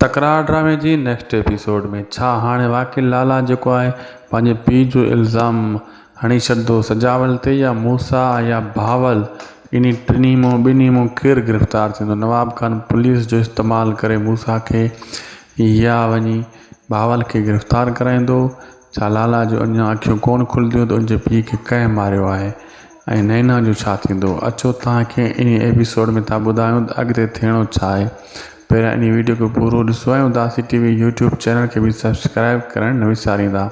تڪرار ڊرامي جي نيڪسٽ ايپيسوڊ ۾ ڇا هاڻي واقعي لالا جيڪو آهي پنهنجي پيء جو الزام هڻي ڇڏندو سجاول تي يا موسيٰ يا بهاول انهي ٽنهي مان ٻنهي مان ڪير گرفتار ٿيندو نواب خان پوليس جو استعمال ڪري موسيٰ کي يا وڃي بهاول کي گرفتار ڪرائيندو ڇا لالا جون اڃا اکيون ڪونه کلنديون ته ان جي پيء کي ڪنهن ماريو آهي ۽ نينا جو ڇا ٿيندو اچو توهان کي انهي ايپيسوڊ ۾ ٿا ٻڌايون ته اڳتي ٿيڻو ڇا آهي پهريان انهي ويڊيو کي پورو ڏسو ۽ Udasi T V YouTube channel کي به سبسڪرائيب ڪرڻ نه وساريندا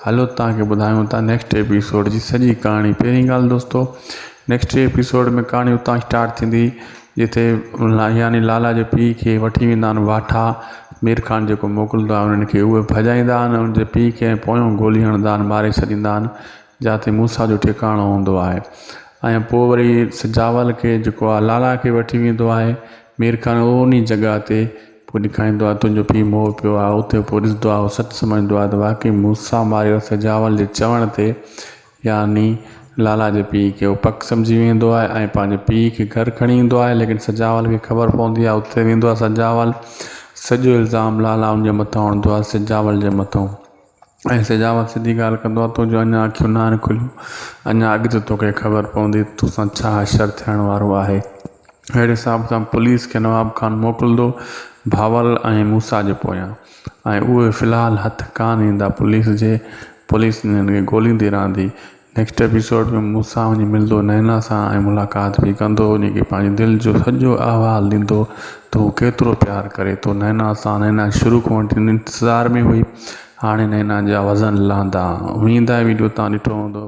هلو توهان کي ٻڌايون ٿا نيڪسٽ ايپيسوڊ جي سڄي ڪهاڻي پهرين ڳالهه دوستو نيڪسٽ ٽي ايپيسوڊ ۾ ڪھاڻي اتان اسٽارٽ ٿيندي جتي يعني لالا جي پيء کي وٺي ويندا آھن واٺا مير خان جيڪو موڪلندو آھي انھن کي اھي ڀڄائيندا آھن انھن جي پيء کي پويون گولي ھڻندا آھن ماري ڇڏيندا آھن جاتي موسيٰ جو ٺڪاڻو ھوندو آھي ۽ پوء وري سجاول کي جيڪو آھي لالا کي وٺي ويندو آھي مير خان اھو انھي جڳھه تي پوء ڏيکاريندو آھي تنھنجو پيء مئو پيو آھي اتي پوء ڏسندو آھي اھو سچ سمجھندو آھي ته واقعي موسيٰ ماريو سجاول جي چوڻ تي يعني لالا جي پيء کي هو پڪ سمجهي ويندو آهي ۽ پنهنجي پيء کي گهر کڻي ايندو آهي ليڪن سجاول کي خبر پوندي آهي اتي ويندو آهي سجاول سڄو الزام لالا ان جي مٿان هڻندو آهي سجاول جي مٿان ۽ سجاول سڌي ڳالهه ڪندو آهي تنهنجو اڃا اکيون ناهن کليون اڃا اڳتي توکي خبر پوندي توسان ڇا حشر ٿيڻ وارو آهي اهڙي حساب سان پوليس کي نواب خان موڪلندو بهاول ۽ موسيٰ جي پويان ۽ اهي في الحال هٿ ڪانه ايندا پوليس جي پوليس انهن کي ڳوليندي رهندي نيڪسٽ ايپيسوڊ ۾ مون سان وڃي ملندو نينا سان ۽ ملاقات به ڪندو وڃي کي پنهنجي دل جو سڄو احوال ڏيندو ته هو ڪيترو پيار ڪري ٿو نينا سان نينا شروع کان وٺي انتظار ۾ هئي هاڻي نينا جا وزن لهندا ويندا ويڊيو تان ڏٺو هوندو.